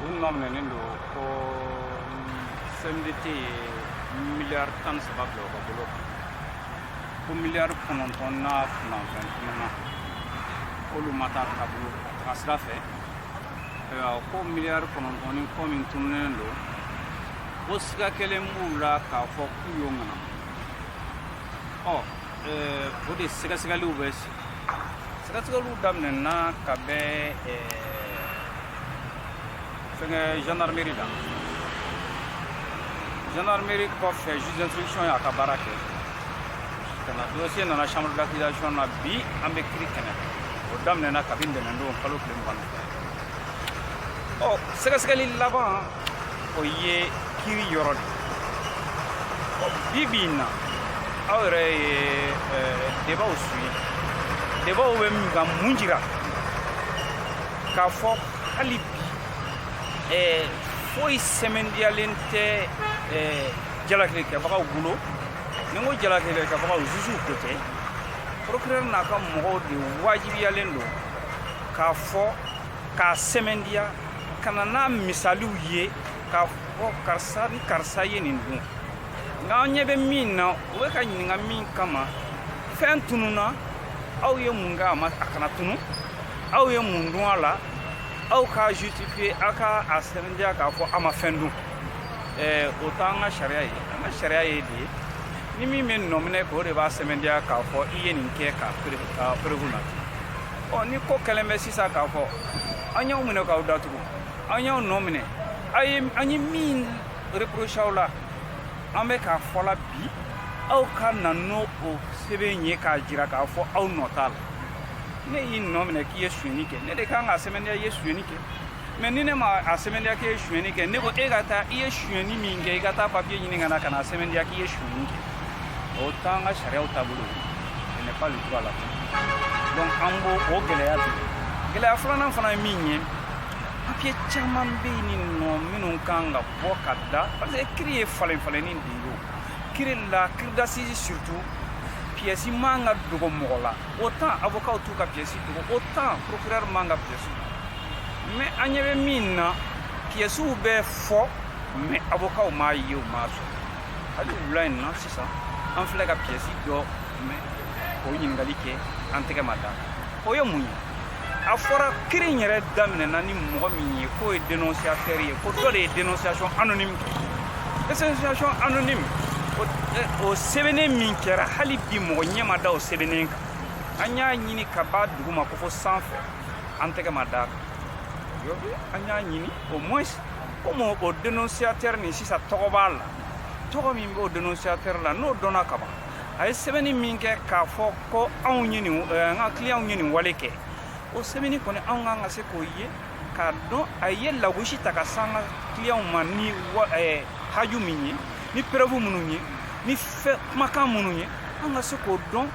u nɔ minɛnen don ko CMDT ye miliyari tan ni saba bila u ka bolo kan ko miliyari kɔnɔntɔn n'a kunkanfɛn tununna k'olu ma taa ka bolo a taga sira fɛ ayiwa ko miliyari kɔnɔntɔn ni kɔ min tununnen don ko siga kelen b'u la k'a fɔ k'u y'o ŋana ɔ o de sɛgɛsɛgɛliw bɛ sɛgɛsɛgɛliw daminɛna kabini fɛngɛ gendarmerie la gendarmerie kɔfɛ juge d'instruction y'a ka baara kɛ ka na dossier nana chambre d'accusation na bi an bɛ kiri kɛnɛ o daminɛna kabini ntɛnɛndon kalo tile mugan ni fila ɔ sɛgɛsɛgɛli laban o ye kiri yɔrɔ de bi bi in na aw yɛrɛ ye debaw suivi debaw bɛ min ka mun jira k'a fɔ hali bi foyi sɛmɛndiyalen tɛ jalakili kɛbagaw bolo ni n ko jalakili kɛbagaw zuzuw ko tɛ procureur n'a ka mɔgɔw de wajibiyalen don k'a fɔ k'a sɛmɛndiya ka na n'a misaliw ye k'a fɔ karisa ni karisa ye nin dun nka an ɲɛ bɛ min na u bɛ ka ɲininka min kama fɛn tununna aw ye mun kɛ a ma a kana tunu aw ye mun dun a la aw k'a justifiye aw ka a sɛmɛndiya k'a fɔ aw ma fɛn dun eh, o t'an ka sariya ye an ka sariya ye de ni min bɛ nɔminɛ k'o de b'a sɛmɛndiya k'a fɔ i ye nin kɛ ka perewu na ɔ ni ko kɛlen bɛ sisan k'a fɔ an y'aw minɛ k'aw datugu an y'aw nɔ minɛ a ye an ye min reproche aw la an bɛ k'a fɔ la bi aw ka na n'o o sɛbɛn ye k'a jira k'a fɔ aw nɔ t'a la ne y'i nɔ minɛ k'i ye sonyani kɛ ne de kan k'a sɛmɛndiya i ye sonyani kɛ mɛ ni ne ma a sɛmɛndiya k'i ye suyɛni kɛ ne ko e ka taa i ye suyɛni min kɛ i ka taa papiye ɲini ka na ka na a sɛmɛndiya k'i ye suyɛni kɛ o t'an ka sariyaw taabolo ye n'est pas le droit la donc an b'o o gɛlɛya bi gɛlɛya filanan fana min ye papiye caman bɛ nin nɔ minnu kan ka bɔ ka da parce que kiri ye falenfalenni de ye o kiri la kiri d'assises surtout piyɛsi man ka dogo mɔgɔ la autant avokaw t'u ka piyɛsi dogo autant procureur man ka piyɛsi dogo mɛ an ɲɛ bɛ min na piyɛsiw bɛ fɔ mɛ avokaw m'a ye u m'a sɔrɔ hali wula in na sisan an filɛ ka piyɛsi dɔw mɛn o ɲininkali kɛ an tɛgɛ ma da o ye mun ye a fɔra kiri in yɛrɛ daminɛna ni mɔgɔ min ye k'o ye dénonciateur ye ko dɔ de ye dénonciation anonyme kɛ dénonciation anonyme o sɛbɛnnen min kɛra hali bi mɔgɔ ɲɛ ma da o sɛbɛnnen kan an y'a ɲini ka b'a duguma ko fo sanfɛ an tɛgɛ ma da an y'a ɲini au moins comme o dénonciateur nin sisan tɔgɔ b'a la tɔgɔ min b'o dénonciateur la n'o dɔnna ka ban a ye sɛbɛnni min kɛ k'a fɔ ko anw ye nin an ka clientw ye nin wale kɛ o sɛbɛnni kɔni anw kan ka se k'o ye k'a dɔn a ye lagosi ta ka s'an ka clientw ma ni haju min ye ni preuve minnu ye ni fɛn kumakan minnu ye an ka se k'o dɔn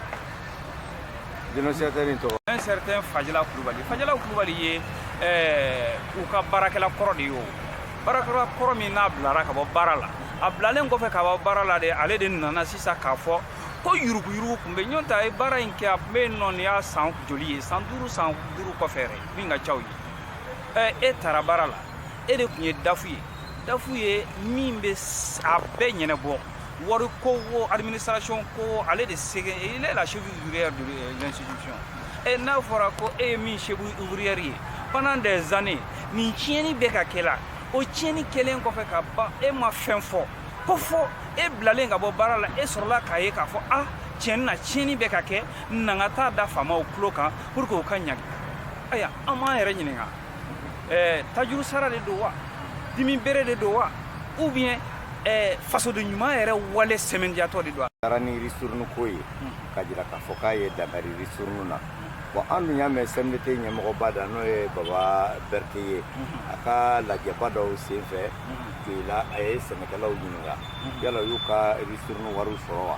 dénonciateur tɔgɔ un certain fajala kulubali fajala kulubali ye u ka baarakɛla kɔrɔ de ye o baarakɛla kɔrɔ min n'a bilara ka bɔ baara la a bilalen kɔfɛ ka bɔ baara la de ale de nana sisan k'a fɔ ko yuruguyugu tun bɛ ɲɔgɔn ta ye baara in kɛ a tun bɛ nɔ y'a san joli ye san duuru san duuru kɔfɛ min ka ca o ye e taara baara la e de tun ye dafu ye dafu ye min bɛ a bɛɛ ɲɛnabɔ wariko wo administration ko wo ale de c'est que il est la cheville ouvrière de l'institution et n'a fɔra ko e ye min cheville ouvrière ye pendant des années nin tiɲɛni bɛ ka kɛ la o tiɲɛni kɛlen kɔfɛ ka ban e ma fɛn fɔ ko fo e bilalen ka bɔ baara la e sɔrɔla k'a ye k'a fɔ ah tiɲɛni na tiɲɛni bɛ ka kɛ na n ka t'a da faamaw tulo kan pour que u ka ɲangi ayiwa an b'an yɛrɛ ɲininka eh, tajuru sara de don wa dimi bere de don wa ou bien eh, fasoden ɲuman yɛrɛ wale sɛmɛntiyatɔ de don taara ni ristourne ko ye ka jira k'a fɔ k'a ye dankari ristourne na bon an dun y'a mɛn cmdt ɲɛmɔgɔba da n'o ye baba berete ye a ka lajɛba dɔw sen fɛ k'i la a ye sɛnɛkɛlaw ɲininka yala u y'u ka ristourne wariw sɔrɔ wa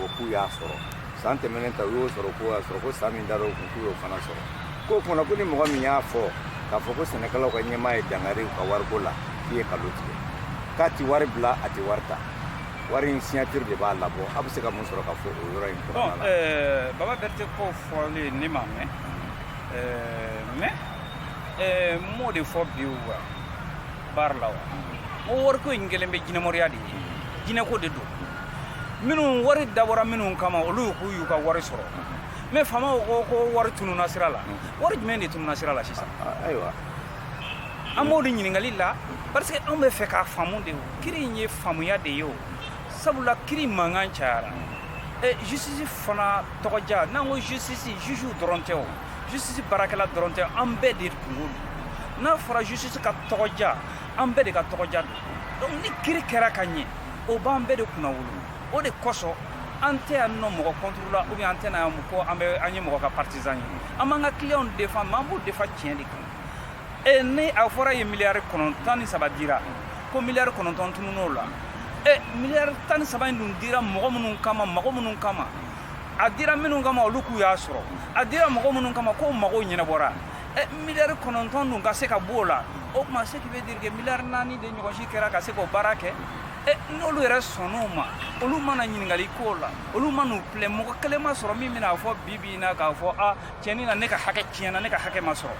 o k'u y'a sɔrɔ san tɛmɛnen ta u y'o sɔrɔ k'u y'a sɔrɔ ko san min dar'o kun k'u y'o fana sɔrɔ k'o kunna ko ni mɔgɔ min y'a fɔ k'a fɔ ko sɛnɛkɛlaw ka ɲɛmaa ye dankari u ka wariko la k'i ye nkalon tigɛ k'a ti wari bila a ti wari ta wari in signature de b'a labɔ a bɛ se ka mun sɔrɔ ka fɔ o yɔrɔ in kɔnɔna la eh, baba berete k'o fɔlen ne m'a mɛn eh, mais eh, n m'o de fɔ bi wa barre la wa o wariko in kɛlen bɛ jinɛmoriya de ye jinɛko de don minnu wari dabɔra minnu kama olu k'u y'u ka wari sɔrɔ mais faamaw ko wari tununa sira la wari jumɛn de tununa sira la sisan ayiwa an b'o de ɲininkali la parce que anw b'a fɛ k'a faamu de o kiri in ye faamuya de ye o sabula kiri mankan cayara ɛ justice fana tɔgɔja n'an ko justice jugew dɔrɔn tɛ o justice baarakɛla dɔrɔn tɛ an bɛɛ de kungo don n'a fɔra justice ka tɔgɔja an bɛɛ de ka tɔgɔja don donc ni kiri kɛra ka ɲɛ o b'an bɛɛ de kunna wolo o de kosɔn an tɛ yan nɔ mɔgɔ contre la ou bien an tɛ na yan ko an bɛ an ye mɔgɔ ka partisan ye an b'an ka clients défend mais an b'u défend tiɲɛ de kan e ni a fɔra ye miliyari kɔnɔ tan ni saba dira ko miliyari kɔnɔntɔn tunun'o la e miliyari tan ni saba in dun dira mɔgɔ minnu kama mɔgɔ minnu kama a dira minnu kama olu k'u y'a sɔrɔ a dira mɔgɔ minnu kama k'o mago ɲɛnabɔra eh, miliyari kɔnɔntɔn dun ka se ka b'o la o tuma ce qui veut dire que miliyari naani de ɲɔgɔn si kɛra ka se k'o baara kɛ eh, n'olu yɛrɛ sɔnn'o ma olu ma na ɲininkali k'o la olu ma n'u pilɛ mɔgɔ kelen ma sɔrɔ min bɛna fɔ bi bi in na k'a fɔ a tiɲɛni na ne ka hakɛ tiɲɛna ne ka hakɛ ma sɔrɔ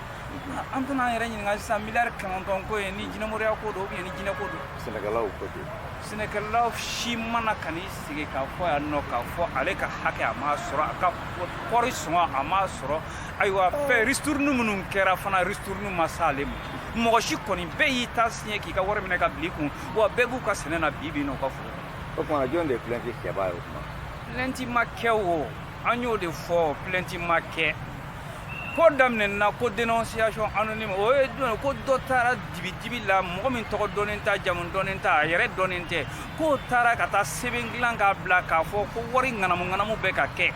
an tɛna an yɛrɛ ɲininka sisan miliyari kɔnɔntɔn ko ye ni jinɛmoriya ko don ou bien ni jinɛ ko don sɛnɛkɛlaw ko don sɛnɛkɛlaw si ma na ka n'i sigi k'a fɔ yan nɔ k'a fɔ ale ka hakɛ a m'a sɔrɔ a ka kɔri sɔngɔ a m'a sɔrɔ ayiwa fɛn ristourne minnu kɛra fana ristourne ma se ale ma mɔgɔ si kɔni bɛɛ y'i ta siɲɛ k'i ka wari minɛ ka bil'i kun wa bɛɛ b'u ka sɛnɛ na bi bi na u ka foro o tuma jɔn de ye plainte kɛbaa ye o tuma plainte ma kɛ o an y'o de fɔ plainte ma kɛ ko daminɛna ko dénonciation anonyme o ye jumɛn ko dɔ taara dibidibi la mɔgɔ min tɔgɔ dɔnnen t'a jamu dɔnnen tɛ a yɛrɛ dɔnnen tɛ k'o taara ka taa sɛbɛn dilan k'a bila k'a fɔ ko wari ŋanamu ŋanamu bɛ ka kɛ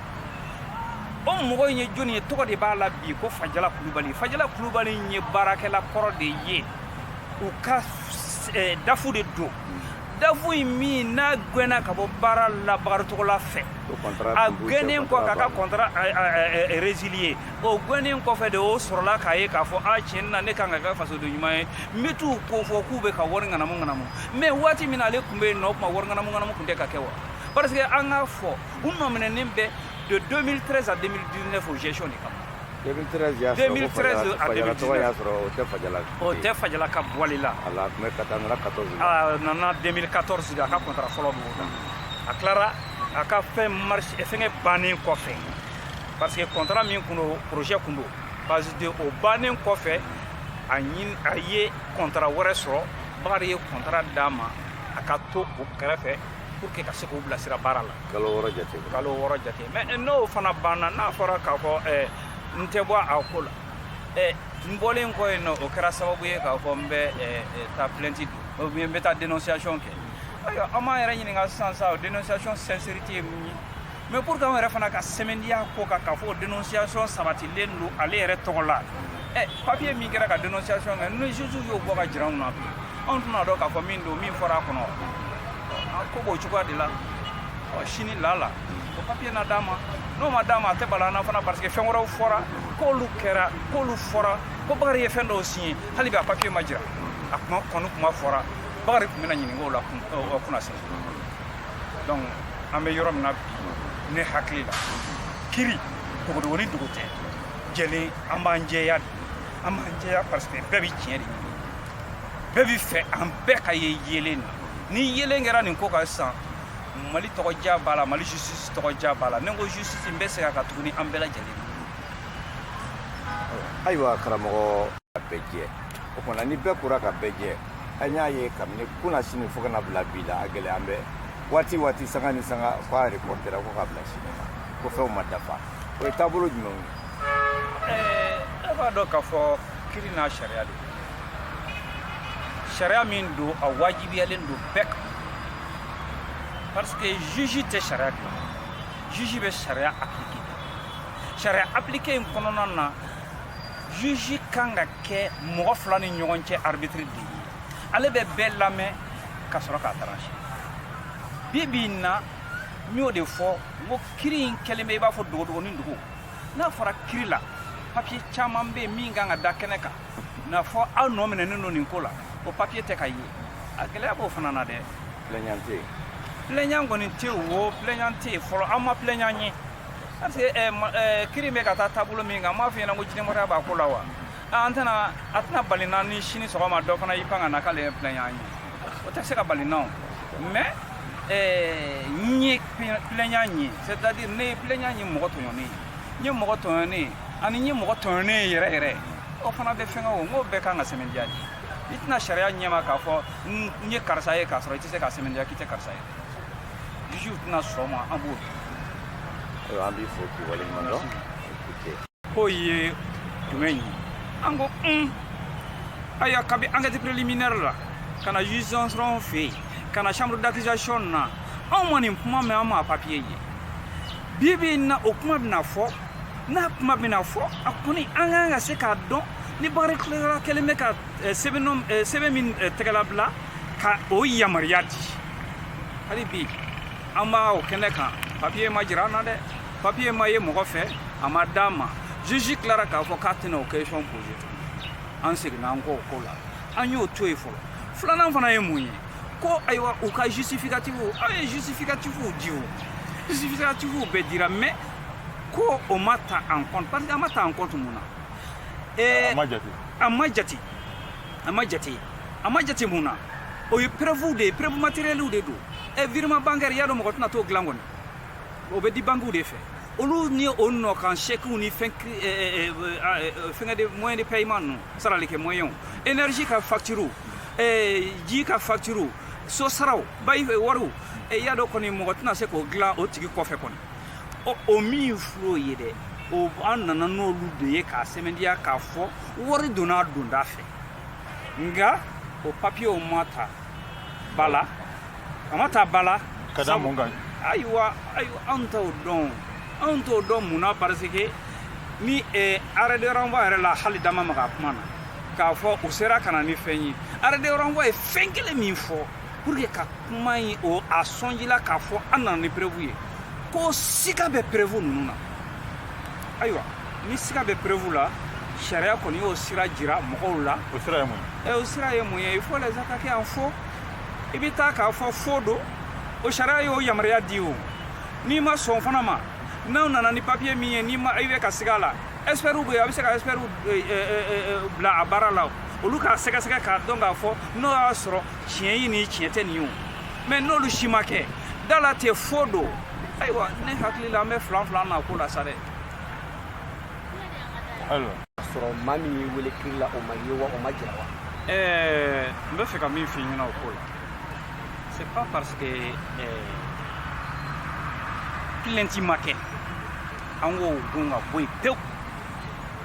o mɔgɔ in ye jɔni ye tɔgɔ de b'a la bi ko fajala kulubali fajala kulubali ye baarakɛla kɔrɔ de ye u ka eh, dafu de don dafu in min n'a gɛnna ka bɔ baara la bakari togola fɛ a gɛnnen kɔ k'a ka contrat résilier o gɛnnen kɔfɛ de o sɔrɔla k'a ye k'a fɔ a tiɲɛ na ne kan ka kɛ fasoden ɲuman ye n bɛ t'u ko fɔ k'u bɛ ka wari ŋanamu ŋanamu mais waati min na ale tun bɛ yen nɔ o tuma wari ŋanamu ŋanamu tun tɛ ka kɛ wa parce que an k'a fɔ u nɔminɛnen bɛ de 2013 à 2019 o gestion de kama 2013 à 2019 y'a sɔrɔ o tɛ Fajala, o tɛ Fajala ka bɔli la, a la mais ka taa nana 14 la, a nana 2014 de a ka contrat fɔlɔ b'o la, a tilara a ka fɛn marché fɛngɛ bannen kɔfɛ parce que contrat min kun don projet kun don parce que o bannen kɔfɛ a ɲin a ye contrat wɛrɛ sɔrɔ Bakari ye contrat d'a ma a ka to o kɛrɛfɛ pour que ka se k'u bilasira baara la kalo wɔɔrɔ jate kalo wɔɔrɔ jate mais eh, n'o fana banna n'a fɔra k'a fɔ eh, n tɛ bɔ a ko la eh, n bɔlen kɔ yen nɔ o kɛra sababu ye k'a fɔ n bɛ taa plainte don ou bien n bɛ taa dénonciation kɛ ayiwa an m'an yɛrɛ ɲininka sisan sa o dénonciation sincérité ye mun ye mais pour que anw yɛrɛ fana ka sɛmɛntiya ko kan k'a fɔ dénonciation sabatilen don ale yɛrɛ tɔgɔ la ɛ papiye min kɛra ka dénonciation kɛ ni juge y'o bɔ k'a jira anw na bi anw tɛn'a dɔn k'a fɔ min don min fɔra a kɔnɔ ko b'o cogoya de la ɔ sini lala o papiye na d'a ma n'o ma d'a ma a tɛ bala an na fana parce que fɛn wɛrɛw fɔra k'olu kɛra k'olu fɔra ko bakari ye fɛn dɔw siɲɛ hali bi a papiye ma jira a kuma kɔni kuma fɔra bakari tun bɛna ɲininka o la kunnasini donc an bɛ yɔrɔ min na bi ne hakili la kiri dogodogonin dogo tɛ jɛlen an b'an jɛya de an b'an jɛya parce que bɛɛ bɛ tiɲɛ de ɲini bɛɛ b'a fɛ an bɛɛ ka ye yeelen na ni yeelen kɛra nin ko kan sisan mali tɔgɔja b'a la mali justice tɔgɔja b'a la ni n ko justice n bɛ segin a kan tuguni an bɛɛ lajɛlen na ayiwa karamɔgɔ a bɛɛ jɛ o tumana ni bɛɛ kora ka bɛɛ jɛ an y'a ye kabini kunnasini fo ka na bila bi la a gɛlɛya an bɛ waati waati sanga ni sanga ko a reportera ko k'a bila sini ma ko fɛnw ma dafa o ye taabolo jumɛnw ye eh, e b'a dɔn k'a fɔ kiri n'a sariya de sariya min don a wajibiyalen don bɛɛ kan parce que juge tɛ sariya dilan juge bɛ sariya appliquer sariya appliquer in kɔnɔna na juge kan ka kɛ mɔgɔ fila ni ɲɔgɔn cɛ arbitre de ye ale bɛ bɛɛ lamɛn ka sɔrɔ k'a trancher bi bi in na n y'o de fɔ n ko kiri in kɛlen bɛ i b'a fɔ dogodogonin dogo n'a fɔra kiri la papiye caman bɛ yen min kan ka da kɛnɛ kan n'a fɔ aw nɔminɛnen don nin ko la o papiye tɛ ka ye a gɛlɛya b'o fana na dɛ plaignant tɛ yen plaignant kɔni tɛ yen o plaignant tɛ yen fɔlɔ an ma plaignant ye Parce que ɛɛ ma ɛɛ kiri bɛ ka taa taabolo min kan n m'a f'i ɲɛna ko jinɛmɔgɔya b'a ko la wa aa an tɛna a tɛna bali n na ni sini sɔgɔma dɔ fana y'i pan ka na k'ale ye plaignant ye o tɛ se ka bali n na o mais ɛɛ n ye plaignant ye c'est à dire ne ye plaignant ye mɔgɔ tɔɲɔnen ye n ye mɔgɔ tɔɲɔnen ye ani n ye mɔgɔ tɔɲɔnen ye yɛrɛ yɛrɛ o fana bɛ fɛngɛ o n k'o bɛɛ kan ka sɛmɛndiya de i tɛ na sariya ɲɛma k'a fɔ n ye karisa ye k'a sɔrɔ i tɛ se k'a sɛmɛndiya k'i tɛ karisa ye juge tɛna sɔn a ma an b'o ayiwa an b'i fo k'i waleɲuman dɔn k'o ye jumɛn ye an ko un ayiwa kabi enquête préliminaire la ka na juge d'instruction fɛ yen ka na chambre d'accusation na anw ma nin kuma mɛn an ma papiye ye bi bi in na o kuma bɛna fɔ n'a kuma bɛna fɔ a kɔni an kan ka se k'a dɔn ni bakari tilara kɛlen bɛ ka sɛbɛn min tɛgɛlabila ka o yamaruya di hali bi an b'a o kɛnɛ kan papiye ma jira an na dɛ papiye ma ye mɔgɔ fɛ a ma d'an ma juge tilara k'a fɔ k'a tɛna o question poser tuguni an seginna an kɔ o ko la an y'o to yen fɔlɔ filanan fana ye mun ye ko ayiwa u ka justificatifw aw ye justificatifw di o justificatifw bɛɛ dira mais ko o ma ta en compte parce que a ma ta en compte mun na a ma jate a ma jate a ma jate mun na o ye preuve de ye preuve matériellew de don ɛ virement bancaire y'a dɔn mɔgɔ tɛna t'o dilan kɔni o bɛ di bankiw de fɛ olu ni o nɔ kan sɛkiw ni fɛn fɛnkɛ de moyen de paiement ninnu sarali kɛ moyen énergie ka facture ji ka facture so saraw bayi wariw y'a dɔn kɔni mɔgɔ tɛna se k'o dilan o tigi kɔfɛ kɔni o min fil'o ye dɛ o an nana n'olu de ye k'a sɛmɛndiya k'a fɔ wari donna donda fɛ nka o papiyew ma ta ba la a ma ta ba la ka da mun kan ayiwa ayiwa anw t'o dɔn anw t'o dɔn mun na parce que ni arrêt de renvoi yɛrɛ la hali da ma maga kuma na k'a fɔ u sera ka na ni fɛn ye arrêt de renvoi ye fɛn kelen min fɔ pour que ka kuma in o a sɔnjila k'a fɔ an nana ni preuve ye ko siga bɛ preuve ninnu na ayiwa ni siga bɛ preuve la sariya kɔni y'o sira jira mɔgɔw la o sira ye mun ye o sira ye mun ye il faut les attaquer en faux i bɛ taa k'a fɔ faux don o sariya y'o yamaruya di o n'i ma sɔn fana ma n'aw nana ni papiye min ye n'i ma i bɛ ka siga a la ɛsipɛriw bɛ yen a bɛ se ka ɛsipɛriw bila a baara la olu k'a sɛgɛsɛgɛ k'a dɔn k'a fɔ n'o y'a sɔrɔ tiɲɛ ye ni tiɲɛ tɛ nin ye o mais n'olu si ma kɛ da la ten faux don ayiwa ne hakili la an bɛ filanfilan na ko la sa dɛ ayiwa sɔrɔ maa min y'i wele kiri la o ma ye wa o ma jira wa ɛɛ n bɛ fɛ ka min f'i ɲɛna o ko la c'est pas parce que plainte ma kɛ an k'o gun ka bɔ yen pewu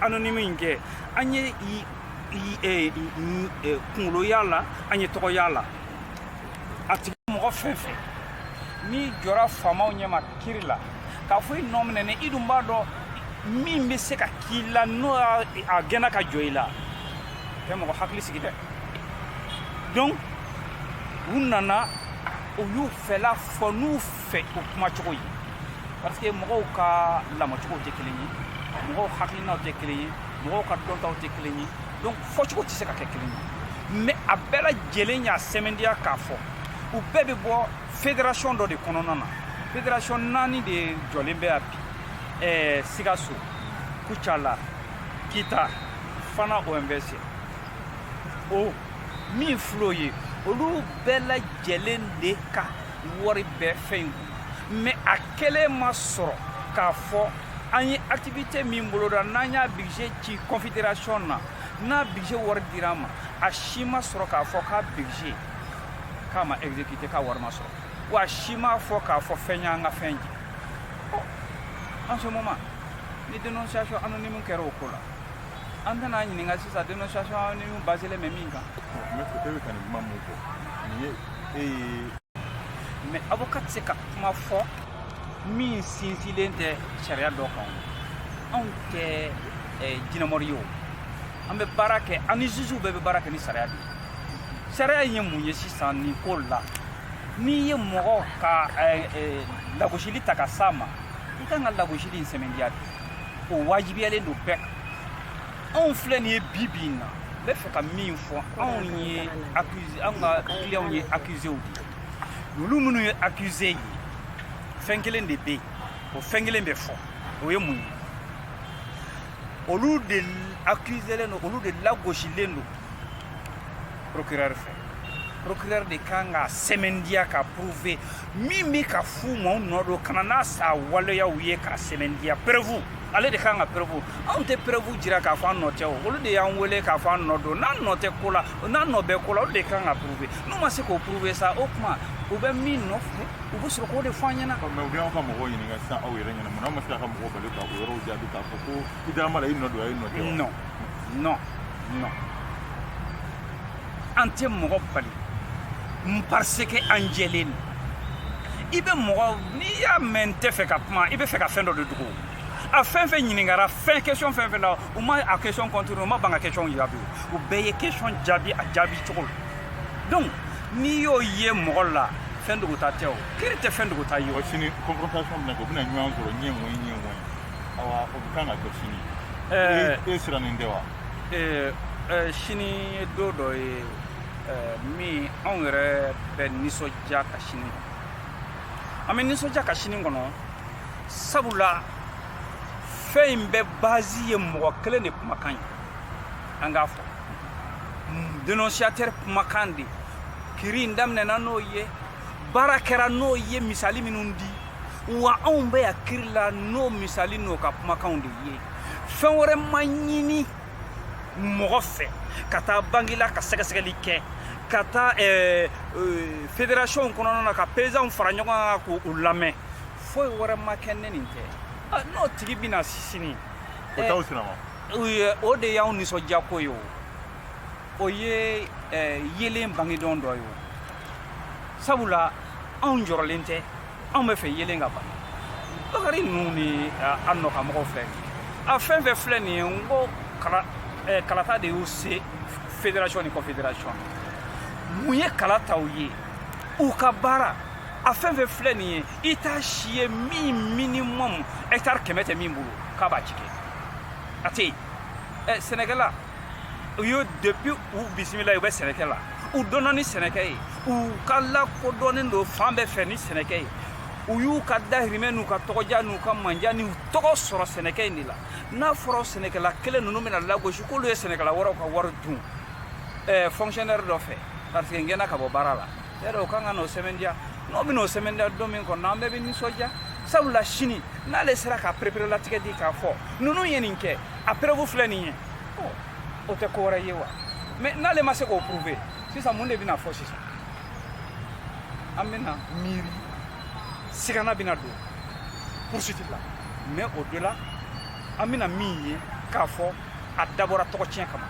anonyme kɛ an ye kunkolo y'a la an ye tɔgɔ y'a la a tigi mɔgɔ fɛn fɛn n'i jɔra faamaw ɲɛma kiri la k'a fɔ i nɔminɛnen i dun b'a dɔn min bɛ se ka k'i la n'o a gɛnna ka jɔ i la tɛ mɔgɔ hakili sigi dɛ donc u nana u y'u fɛla fɔ n'u fɛ o kumacogo ye parce que mɔgɔw ka lamɔcogo tɛ kelen ye mɔgɔw hakilinaw tɛ kelen ye mɔgɔw ka dɔntaw tɛ kelen ye donc fɔcogo tɛ se ka kɛ kelen ye mais a bɛɛ lajɛlen y'a sɛmɛndiya k'a fɔ u bɛɛ bɛ bɔ fédération dɔ de kɔnɔna na fédération naani de jɔlen bɛ a bi ɛɛ sikaso kucala kita fana omvc o min fil'o ye olu bɛɛ lajɛlen de ka wari bɛ fɛn in kun mais a kelen ma sɔrɔ k'a fɔ an ye activité min boloda n'an y'a budget ci confédération na n'a budget wari dir'an ma a si ma sɔrɔ k'a fɔ k'a budget k'a ma exécuté k'a wari ma sɔrɔ wa a si m'a fɔ k'a fɔ fɛn y'an ka fɛn jɛ en ce moment ni dénonciation anonyme kɛra o ko la an tɛna ɲininka sisan dénonciation anonyme basélen bɛ min kan maître e bɛ ka nin kuma mun fɔ nin ye e ye mais avocat tɛ se ka kuma fɔ min sinsinlen tɛ sariya dɔ kan anw tɛ jinɛmɔri ye o an bɛ baara kɛ an ni jugew bɛɛ bɛ baara kɛ ni sariya de ye sariya ye mun ye sisan nin ko la n'i ye mɔgɔ ka lagosili ta ka s'a ma i kan ka lagosili in sɛmɛndiya de o wajibiyalen don bɛɛ kan anw filɛ nin ye bi bi in na n bɛ fɛ ka min fɔ anw ye accusé anw ka clients ye accuséw de ye olu minnu ye accusé ye fɛn kelen de bɛ yen o fɛn kelen bɛ fɔ o ye mun ye olu de accuselen don olu de lagosilen don procureur fɛ procureur de kan k'a sɛmɛndiya k'a prouver min bɛ k'a fɔ maaw nɔ don ka na n'a sa waleyaw ye k'a sɛmɛndiya preuve ale de kan ka preuve anw tɛ preuve jira k'a fɔ an nɔ tɛ o olu de y'an wele k'a fɔ an nɔ don n'an nɔ tɛ ko la n'an nɔ bɛ ko la olu de kan k'a prouver n'u ma se k'o prouver sa o tuma u bɛ min nɔfɛ u bɛ sɔrɔ k'o de fɔ an ɲɛna. mais u bɛ aw ka mɔgɔw ɲininka sisan aw yɛrɛ ɲɛna mun na aw ma se k'aw ka mɔgɔw bali ka o yɔrɔw jaabi k'a fɔ ko i dara ma la i nɔ don wa i nɔ tɛ wa. non non non. an tɛ mɔgɔ bali n parce que an jɛlen don i bɛ mɔgɔ n'i y'a mɛn n tɛ fɛ ka kuma i bɛ fɛ ka fɛn dɔ de dogo a fɛn fɛn ɲininkara fɛn question fɛn fɛn na u ma a question contourner u ma ban ka question jaabi u bɛɛ ye question jaabi a jaabi cogo la donc n'i y'o ye mɔgɔ la fɛn dogota tɛ o kiri tɛ fɛn dogota ye o sini confrontation bɛna kɛ u bɛna ɲɔgɔn sɔrɔ ɲɛ mɔyi ɲɛ mɔyi awa o bɛ kan ka kɛ sini e sirannen tɛ wa ee eh, sini ye don dɔ ye eh, min anw yɛrɛ bɛ nisɔndiya ka sini kɔnɔ an bɛ nisɔndiya ka sini kɔnɔ sabula fɛn in bɛɛ base ye mɔgɔ kelen de kumakan ye an k'a fɔ dénonciateur kumakan de kiri in daminɛna n'o ye baara kɛra n'o ye misali minnu di wa anw bɛ yan kiri la n'o misali n'o ka kumakanw de ye fɛn wɛrɛ ma ɲini mɔgɔ fɛ ka taa banki la ka sɛgɛsɛgɛli kɛ ka taa eh, eh, fédération kɔnɔna na ka paysanw fara ɲɔgɔn kan k'u lamɛn foyi wɛrɛ ma kɛ ni nin tɛ ah, n'o tigi bɛ na sini o eh, de y'anw nisɔndiyako ye o o ye eh, yelen bangedon dɔ ye o sabula anw jɔrɔlen tɛ anw b'a fɛ yelen ka bange bakari ninnu ni eh, a nɔkanmɔgɔw filɛ a fɛn fɛn filɛ nin ye n ko kala eh, kalata de y'u se fédération ni confédération mun ye kala ta u ye u ka baara a fɛn fɛn filɛ nin ye i t'a si ye min minimum hectare kɛmɛ tɛ min bolo k'a b'a ci kɛ a tɛ yen ɛ sɛnɛkɛla u y'o depuis u bisimila u bɛ sɛnɛkɛ la u dɔnna ni sɛnɛkɛ ye u ka lakodɔnnen don fan bɛɛ fɛ ni sɛnɛkɛ ye u y'u ka dahirimɛ n'u ka tɔgɔdiya n'u ka mandiya n'u tɔgɔ sɔrɔ sɛnɛkɛ in de la n'a fɔra sɛnɛkɛla kelen ninnu bɛna lagosi k'olu ye sɛnɛkɛla wɛrɛw ka wari dun fonctionnaire dɔ fɛ parce que n gɛnna ka bɔ baara la yɛrɛ o kan ka n'o sɛmɛndiya n'o bɛna o sɛmɛndiya don min kɔnɔ an bɛɛ bɛ nisɔndiya sabula sini n'ale sera ka pereperelatigɛ di k'a fɔ ninnu ye nin kɛ a preuve filɛ nin ye o tɛ ko wɛrɛ ye wa mais n'ale ma se k'o prouver sisan mun de bɛna fɔ sisan an bɛna miiri sigana bɛna don poursuite la mais au-delà an bɛna min ye k'a fɔ a dabɔra tɔgɔtiɲɛ kama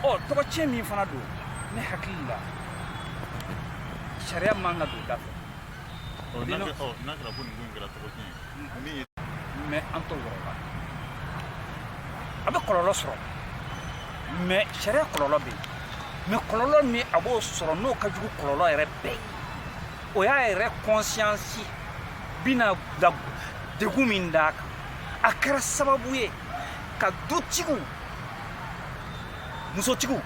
o tɔgɔtiɲɛ min fana don ne hakili la sariya man ka don da fɛ n'a kɛra ko nin ko in kɛra tɔgɔtiɲɛ ye min ye mais an t'o yɔrɔ la a bɛ kɔlɔlɔ sɔrɔ mais sariya kɔlɔlɔ bɛ yen mais kɔlɔlɔ min a b'o sɔrɔ n'o ka jugu kɔlɔlɔ yɛrɛ bɛɛ ye o y'a yɛrɛ conscience bɛna da degun min d'a kan a kɛra sababu ye ka dutigiw musotigiw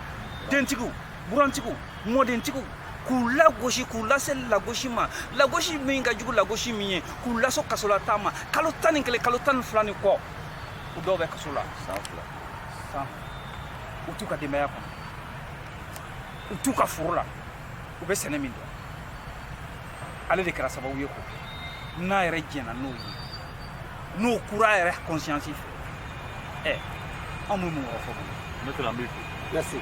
dentigiw burantigiw mɔdentigiw k'u lagosi k'u lase lagosi ma lagosi min ka jugu lagosi min ye k'u lase kasolataa ma kalo tan ni kelen kalo tan ni fila ni kɔ u dɔw bɛ kaso la san fila san u t'u ka denbaya kɔnɔ u t'u ka foro la u bɛ sɛnɛ min dɔn ale de kɛra sababu ye k'o kɛ n'a yɛrɛ jɛnna n'o ye n'o kura yɛrɛ conscience fɛ ɛ anw bɛ mun yɔrɔ fɔ n bɛ tɛmɛ an bɛ fo